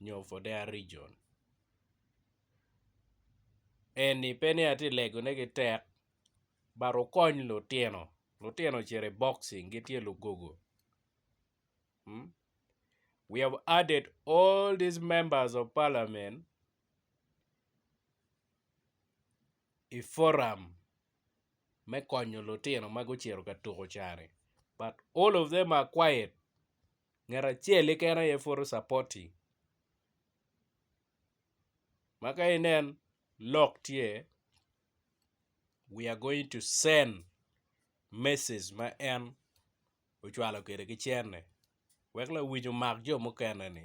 nyo for their region eni pe ni atye ka legone ki tek but okony lutino, lutino ocito i boxing gitye lugogo we have added all these members of parliament i forum me konyo lutino ma gucito ka tuko cani but all of them are quiet. ngat acel keken aye photo supporting ma ka inen lok tye we are going to send message ma en ocwalo kwede ki cene wek lawic omak jo mukene ni.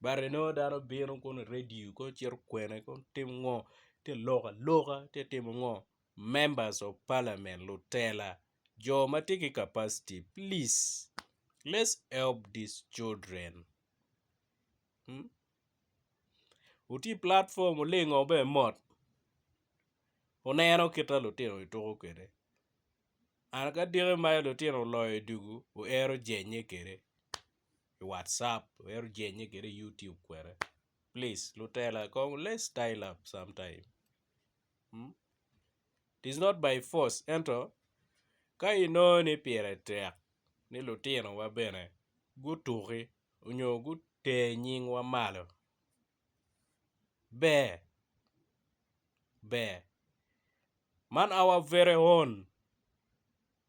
But inongo dano bino kono i radio kono cito kwene kono timo ngo tye loko aloka tye timo ngo members of parliament lutela jo ma tye ki capacity please let's help these children wutye i platform wulingo bene mot wuneno kita lutino gituko kwede an ka diki mere lutino oloyo dugu wuero jenye kwede. i whatsapp wek ojenye kwede i YouTube kwede please lutela kong let's style up sometime it is not by force ento ka inongo ni pire tek ni lutinowa bene gutuki nyo guter nyingwa malo. Ber, ber. Man our very own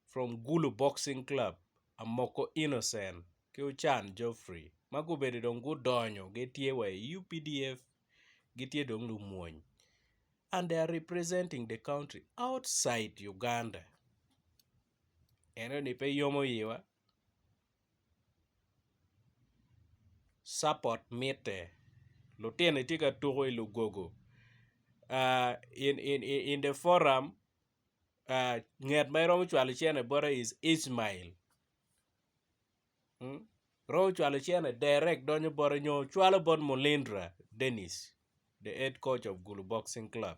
from Gulu boxing club Amoko Innocent ki Ocan Geoffrey ma gubedo dong gudonyo gitye wa i UPDF gitye dong lumwony and they are representing the country outside Uganda. Eno ni pe yomo iwa Support mitte. Lutino tye ka tuko i lugogo in the forum nget ma iromo cwalo cene bote is Ismail romo cwalo cene direct donyo bote nyo cwalo bot Mulindra Denis the head coach of Gulu boxing club.